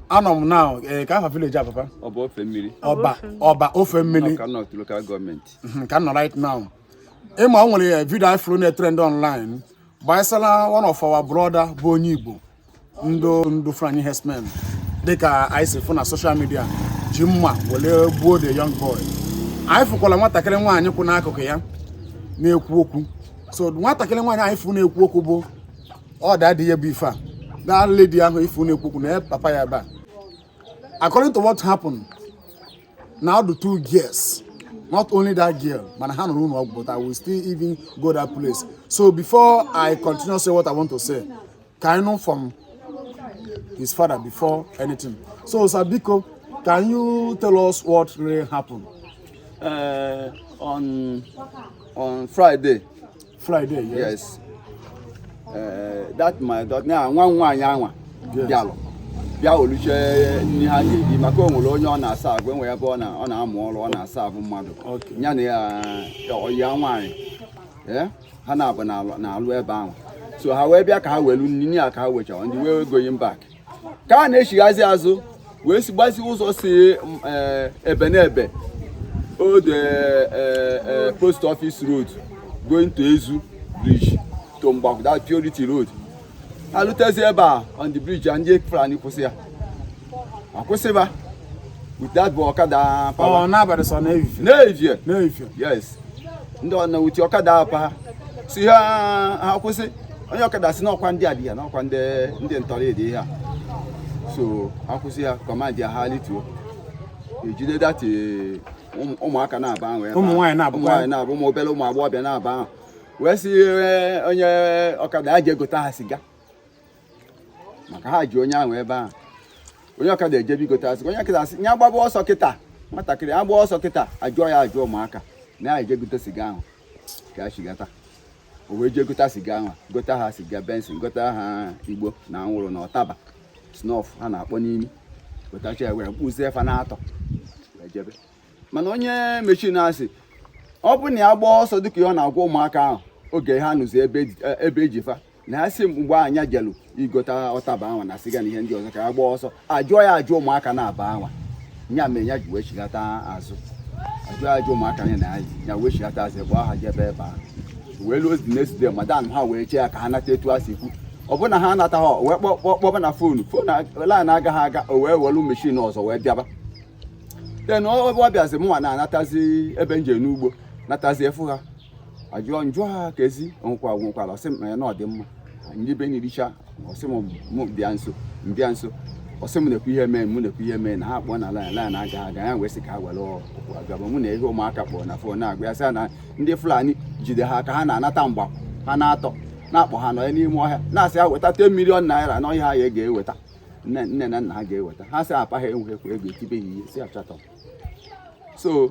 anọ m na eh, ka afa village a papa Ọba Ofemmili Ọba Ọba Ofemmili Ọka North local government Mhm, ka m nọ right now ị ma o nwere video anyị fụrụ na-etrend online gbasara one of our brother bụ onye igbo ndụ ndụ Fulani herdsmen dịka anyị si fụ na social media ji mma were gbuo the young boy anyị fụkwara nwatakịrị nwaanyị kwụ n'akụkụ ya na-ekwu okwu so nwatakịrị nwaanyị anyị fụ na-ekwu okwu bụ ọ daddy ya bụ ife a that lady ahụ ị fụ na-ekwu okwu na papa ya ebe a according to what happened na ọ dụ two girls not only that girl mana ha nọ n'ụlọ ọgwụ but i will still even go that place so before i continue say what i want to say ka anyị nụ from his father before anything so sir biko can you tell us what really happened uh, on on friday Friday, yes. yes. Uh, that my daughter now nwa nwaanyị anwa bịalụ bịa weluche nni ha ga-eji maka o nwere onye ọ na-aserve e nwe ebe ọ na-amụ ọrụ ọ na-aserve mmadụ ya na ọyị ya nwaanyị eh, ha naabọ na-alụ ebe ahụ so ha wee bịa ka ha welu nni a ka ha wechara on the way going back ka ha na-echighazi azụ wee si gbazi ụzọ si eh, ebe n'ebe old eh, eh, post office road going to Ezu bridge to Mgbakwụ that Purity road ha lutezi ebe a on the bridge ndị Fulani kwụsị ya akwụsịba with that bụ ọkada pawa n'evie n'evie yes ndị ọna with ọkada pa ha sị ha kwụsị onye ọkada sị na ọ kwa ndị adị ya na ọ kwa ndị ndị ntọrọ dị ihe a so akwụsị ya command ya ha lituo ejide that ụmụaka naabọ ahụ ụmụ nwaanyị naabọ ụmụ nwaanyị naabọ ụmụ obere ụmụ agbọghọbịa naabọ ahụ wee sị eh, onye ọkada ya jee gota ha siga maka ha ji onye ahụ ebe ahụ onye ọkada ejebe igote asị onye ọkada asị ya gbaba ọsọ kịta nwatakịrị agba ọsọ kịta ajụọ ya ajụọ ụmụaka na ya eje gote siga ahụ ka ya chigata o wee jee gota siga ahụ gota ha siga Benson gota ha igbo na anwụrụ na ọtaba snuff ha na-akpọ n'imi gotacha ya were kpụzie fa n'atọ wee jebe mana onye machine asị ọ bụrụ na ya gbaa ọsọ dịka ihe ọ na-agwa ụmụaka ahụ oge ha nọzi ebe e ji- ebe e ji fa na asị mgbe ahụ nya jelu igota ọtaba anwa na siga na ihe ndị ọzọ ka ya gbaa ọsọ ajụọ ya ajụ ụmụaka naabọ anwa nya mere ya ji wee chigata azụ ajụọ ya ajụ ụmụaka ya na ya ya wee chigata azụ gbaa ha jebe ebe ahụ wee luozi next day madam ha wee chee ya ka ha nata etu a si kwu ọ bụrụ na ha anata ha wee kpọba na phone phone line agaghị aga o wee welu machine ọzọ wee bịaba then ọ bịazi mụnwa na-anatazi ebe m je n'ugbo natazi afụ ha ajụọ njụ ha ka ezi onwekwa nwekwara ọ sị m ya na ọ dị mma ndị be nyiricha ọ sị m bịa nso m bịa nso ọ sị m na-ekwu ihe mee mụ na-ekwu ihe mee na ha kpọọ na line line aga aga ya wee sị ka ha were ụkwụ agaba mụ na ihe ụmụaka kpọrọ na fon na-agwa ya sị na ndị fulani jide ha ka ha na-anata mgba ha n'atọ na-akpọ ha nọ ya n'ime ọhịa na-asị ha weta 10 million naira na ọhịa ha ya ga-eweta nne na nna ha ga-eweta ha sị papa ha enweghịkwa ego etibe ya ihe si achọta so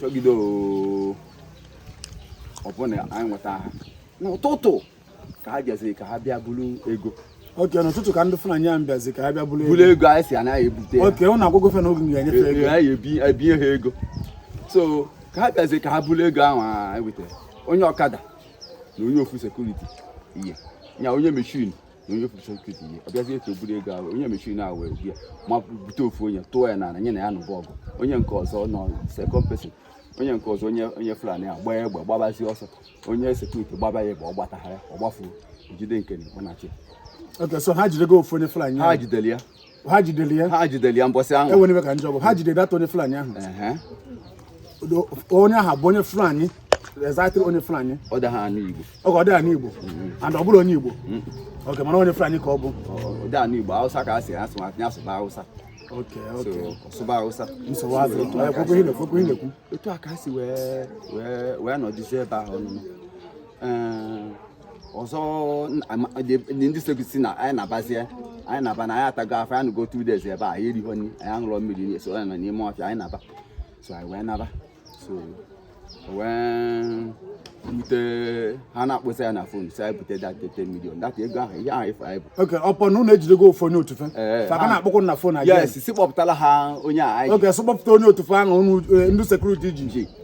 chọgide oo ọ bụ na anyị nweta ha n'ụtụtụ ka ha bịaziri ka ha bịa buru ego okay n'ụtụtụ ka ndị fulani ahụ bịazi ka ha bịa buru buru ego ego anyị si anaghị ebute ya okay unu agwago fa na oge m ga-enyefe Ee, ego anyị ebi- ebinye ha ego so ka ha bịaziri ka ha buru ego ahụ anyị wetara onye ọkada na onye ofu sekuriti ihe nya onye meshin na onye ofu sekuriti ihe ọ bịazie etu o buru ego ahụ onye meshin ahụ wee bịa ma bute ofu onye tụọ ya n'ala nya na ya nụba ọgụ onye nke ọzọ nọ second person onye nke ọzọ onye onye fulani a gbaa egbe gbabazi ọsọ onye sekuriti gbaba ya egbe ọ gbataha ya ọ gbafuo jide nke na-ekwe na chi okay so ha jidego ofu onye fulani ha jidere ya ha jidere ya ha jidere ya mbọsị ahụ enwere ka njọ bụ ha jidere that onye fulani ahụ onye ahụ bụ onye fulani exactly onye fulani ọ dịha anụ igbo okay ọ dịha anụ igbo mm-hmm. and ọ bụrọ onye igbo mm-hmm. okay mana onye fulani ka ọ bụ ọ dịha anụ igbo hausa ka a si asụ ya asụba hausa ọ sụba hausa nsogbu azụ ekwekwe ihe ekwekwe ihe ekwu etu a ka a si wee wee wee nọdụzie ebe ahụ ọnụnụ ọzọ ndị sekuriti sị na anyị nabazie anyị naba na anyị atago afụfụ anyị anọgo two days ebe a anyị erihọ nri anyị aṅụrọ mmiri so anyị nọ n'ime ọfịa anyị naba so anyị wee naba so wee bute ha na-akpọsa ya na fon si anyị bute that 10 million that ego ahụ ihe ahụ ife anyị bu okay ọ bụ na unu ejidego ofu onye otu fa Ee, fa ka ha- na-akpọkwu na fon yes si kpọpụtala ha onye a anyị okay so kpọpụta onye otu fa ahụ unu eh, ndị sekuriti ji ji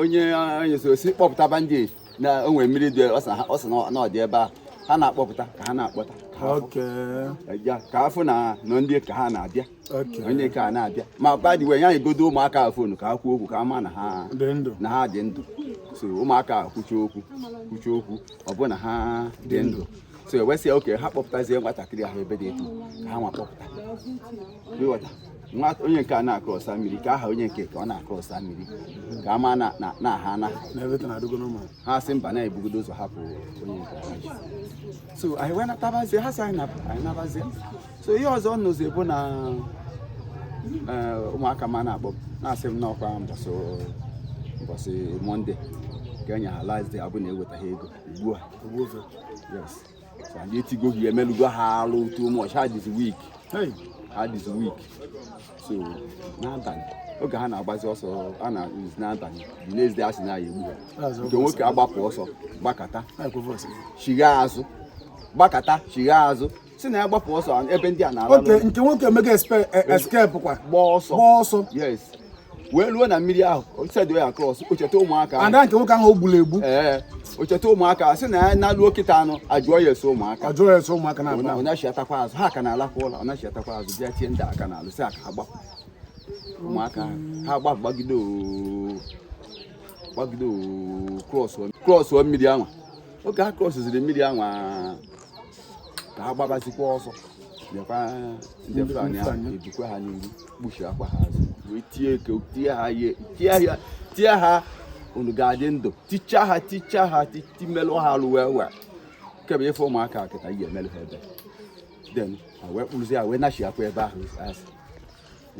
onye onye so si kpọpụta boundary na o nwere mmiri dị ọ sị na ọ dị ebe a ha na-akpọpụta ka ha na-akpọta ka a fụ na nọ ndị ka ha na-abịa onye ka a na-abịa ma badi wee nyegodo ụmụaka a fonu ka ha kwuo okwu ka ha ma na ha dị ndụ so ụmụaka a kwuchaa okwu kwuchaa okwu ọ bụ na ha dị ndụ so e wee sị okay ha kpọpụtazie nwatakịrị ahụ ebe dị etu ka ha nwa kpọpụta nwa onye nke a na-akrọsa mmiri ka a ha onye nke ka ọ na-akrọsa mmiri ka a ma na a hana ha sị mba na ebugodo ụzọ hapụ onye nke ha ji so anyị wee natabazie ha sị anyị nabazie so ihe ọzọ nụzi bụ na eh, ụmụaka m a na-akpọ m na-asị m na ọ kwa mbọsị mbọsị mọnde ka e nye ha last day ọ bụ na ewetaghị ego ugbu a anyị etigo gị emelugo ha alụ too much ha adịzi weak adịzi weak so n'abalị oge ha na-agbazi ọsọ a na n'abalị the next day a sị na a ya-egbu ha nke nwoke agbapụ ọsọ gbakata chigha azụ gbakata chigha azụ sị na ya gbapụ ọsọ ebe ndị a na-ala nke nwoke emego escape kwa gbaa ọsọ gbaa ọsọ yes wee ruo na mmiri ahụ osedo ya cross o cheta ụmụaka ada nke nwoke ahụ o gburu egbu ee o cheta ụmụaka sị na ya naluo kịta nụ a jụọ ya ese ụmụaka a jụọ ya ese ụmụaka na ọ nachiatakwa azụ ha ka na-alakwa ụlọ ọ nachiatakwa azụ bịa tie ndị a aka n'alụ sị ka ha gbaa ụmụaka ha agba gbagide gbagide cross mmiri anwa oge ha crossziri mmiri anwa ka ha gbabazikwa ọsọ nekwa ndị Fulani ahụ ebikwa ha n'iru kpọchiakwa ha azụ wee tie eke tie ha ihe tie ha tie ha unu ga-adị ndụ ticha ha ticha ha timelụ ha alụ wee wee kebe ife ụmụaka kịta ihe e melụ ha ebe then ha wee kpụrụzi ha wee nachiakwa ebe ahụ asị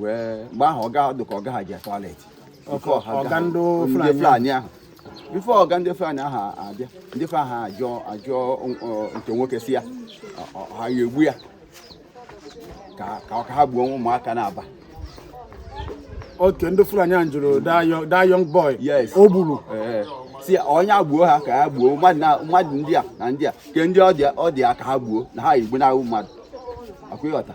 wee mgbe ahụ ọ dị ka ọga ha je toilet ọga ndị Fulani ahụ before ọga ndị Fulani ahụ abịa ndị Fulani ahụ ajụọ ajụọ nke nwoke sị ya ha ya-egbu ya ka ọ ka ha gbuo ụmụaka naabọ oke ndị Fulani ahụ jụrụ that young boy o gburu sị onye agbuo ha ka ha gbuo mmadụ ndị a na ndị a kee ndị ọ dị ya ka ha gbuo na ha igbu na-ahụ mmadụ akwa ị ghọta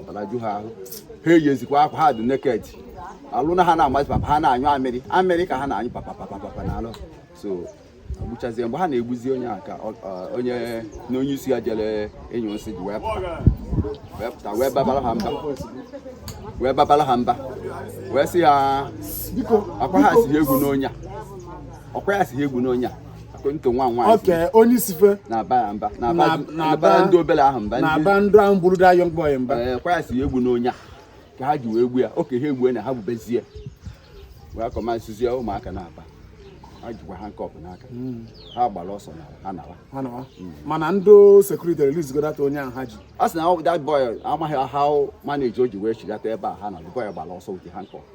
ọbara ju ha ahụ ha eyizikwa akwa ha dị naked alụ na ha na-amazi papa ha na-anyụ amịrị amịrị ka ha na-anyụ papa papa papa na alụ so gbuchazie mgbe ha na-egbuzi onye a ka onye na onye isi ya jere ịnyụ nsị ji wee pụta wee babara ha mba wee babara ha mba wee sị ha ọkwa ha sị egbuna onye a ọkwa ya sị egbuna onye a Akwento nwa nwoke onye isi fa na-aba ya mba Na- na-aba na-aba na-aba- ndị obere ahụ mba ndị na-aba ndị ahụ gburu that young boy mba ee kwa ya sị ha egbuna onye a ka ha ji wee gbu ya oke ha egbue na ha gbubezie wee akọmasizie ụmụaka naabọ ha jikwa handcuff n'aka ha gbara ọsọ na ha nawa Ha nọwa. mana ndị security release godata onye ahụ ha ji a sị na that boy amaghị how manage o ji wee chigata ebe a ha na the boy gbara ọsọ with the handcuff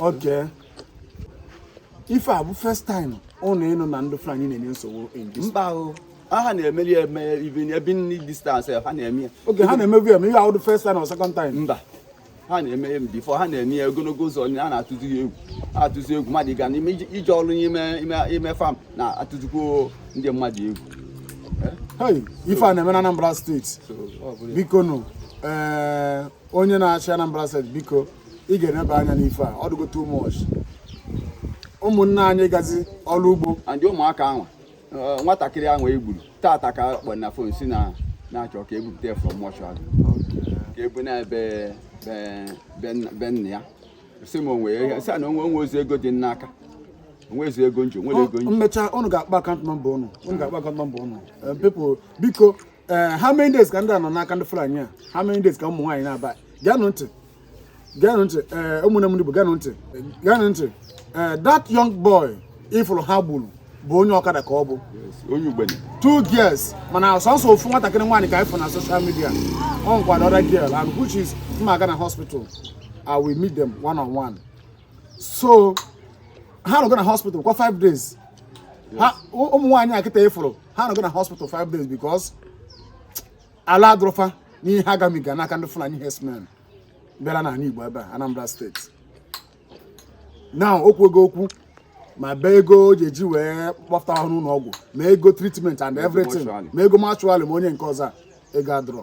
Okay. ife a bụ first time ụnụ ịnụ na ndị Fulani na-enye nsogbu mba ahụ ha na-emeli eme even ebe nri distance ha na-eme ya oge ha na-emebu eme ihe ahụdụ first time or second time mba ha na-eme ya before ha na-eme ya ogologo ụzọ a na-atụzi ya egwu atụzi egwu mmadụ ga n'ime ije ọrụ n'ime ime farm na-atụzikwo ndị mmadụ egwu ife a na-eme na Anambra State biko nụ ee eh, onye na-achị Anambra State biko ị ga-eneba anya n'ife a ọ dịgo too much ụmụnne anyị gazi ọrụ ugbo and ụmụaka ahụ eh, nwatakịrị ahụ e gburu tata ka kpọ na phone si na na-achọ ka ebupụta ya from mortuary ka ebu na ebe be nna ya si m onwe ya si na onwe o nwerọzi ego dị n'aka o nwezi ego m ji o nwerọ ego m ji m mecha ụnụ ga-akpa account number ụnụ ụnụ ga-akpa account number ụnụ eh, biko ee eh, how many days ka ndị a nọ n'aka ndị Fulani a how many days ka ụmụ nwaanyị naabọ geenụ ntị geenụ ntị ee eh, ụmụnne m ndị Igbo geenụ ntị geenụ ntị ee eh, that young boy ị fụrụ ha gburu bụ onye ọkada ka ọ bụ onye Ugbene two girls mana sọsọ ofu nwatakịrị nwaanyị ka ị fụ na social media o nwekwa the other girl and which is m ma aga na hospital I will meet them one on one so ha nọgo na hospital kwa five days ụmụ nwaanyị a kịta ị fụrụ ha nọgo na hospital five days because arụ adịrọ fa n'ihe ha gabiga n'aka ndị Fulani herdsmen bịara n'ala Igbo ebe a Anambra State now o kwugo okwu ma bee ego o ji eji wee kpọpụta ha n'ụlọ ọgwụ ma ego treatment and everything ma ego mortuary ma onye nke ọzọ a ego adịrọ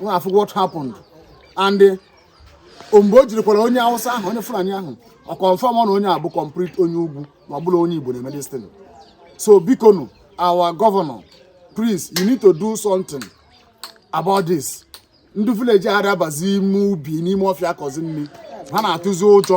nwa afụ what happened and eh, mgbe o jirikwara onye awụsa ahụ onye fulani ahụ ọ confirm na onye a bụ complete onye ugwu na ọ bụrọ onye igbo na-eme this thing so biko nu our governor please you need to do something about this ndị village ara abazi ime ubi n'ime ọfịa akọzi nri ha na-atụzi ụjọ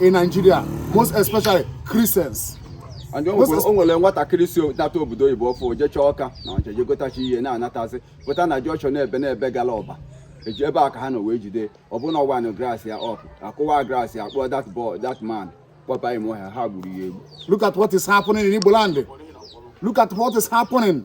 in Nigeria most especially Christians and o nwere nwatakịrị si nata obodo oyibo ọfụụ o jechaa Ọka na ọ jeje gotachi ihe na-anatazi pụta na junction na-ebe na-ebe gara ọba eji ebe a ka ha nọ wee jide ọ bụ na ọ wind glass ya up a kụwa glass ya kpọọ that boy that man kpọba ime ọhịa ha gburu ya egbu look at what is happening in Igbo land look at what is happening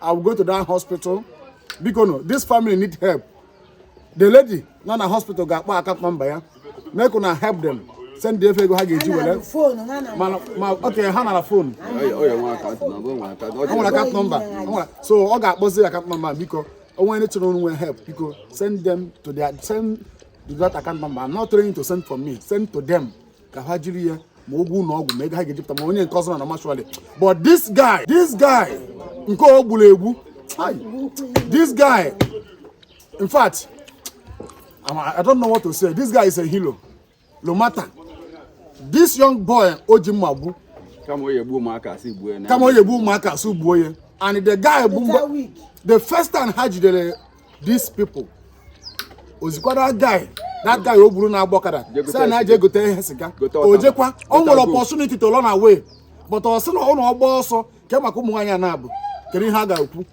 I will go to that hospital biko no this family need help the lady nọ na hospital ga-akpọ account number ya make una help them send the ego ha ga-eji were mana ma okay ha nara phone nwere account number so ọ ga-akpọzi account number biko onwe ndị chọrọ onwe help biko send them to their send to that account number I'm not trying to send for me send to them ka ha jiri ya ma ụgwọ ụlọ ọgwụ ma ego ha ga-ejipụta ma onye nke ọzọ na mortuary but this guy this guy nke e gburu egbu this guy in fact I don't know what to say this guy is a hero no matter this young boy o ji mma gbu kama onye gbuo ụmụaka a sị gbuo ya kama onye gbuo ụmụaka a sị gbuo ya and the guy bụ the first time ha jidere these people o zikwara that guy o buru na-agba ọkada sị ya jee gote ihe siga o jekwa o nwere opportunity to run away but ọ sị na ọ na ọ gbaa ọsọ kee maka ụmụ nwaanyị a naabọ kedu ihe a ga-ekwu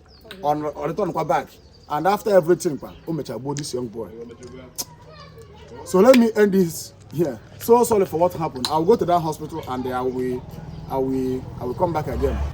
ọ return kwa back and after everything kwa o mechara gbuo this young boy so let me end this here so sorry for what happened i will go to that hospital and i will i will i will come back again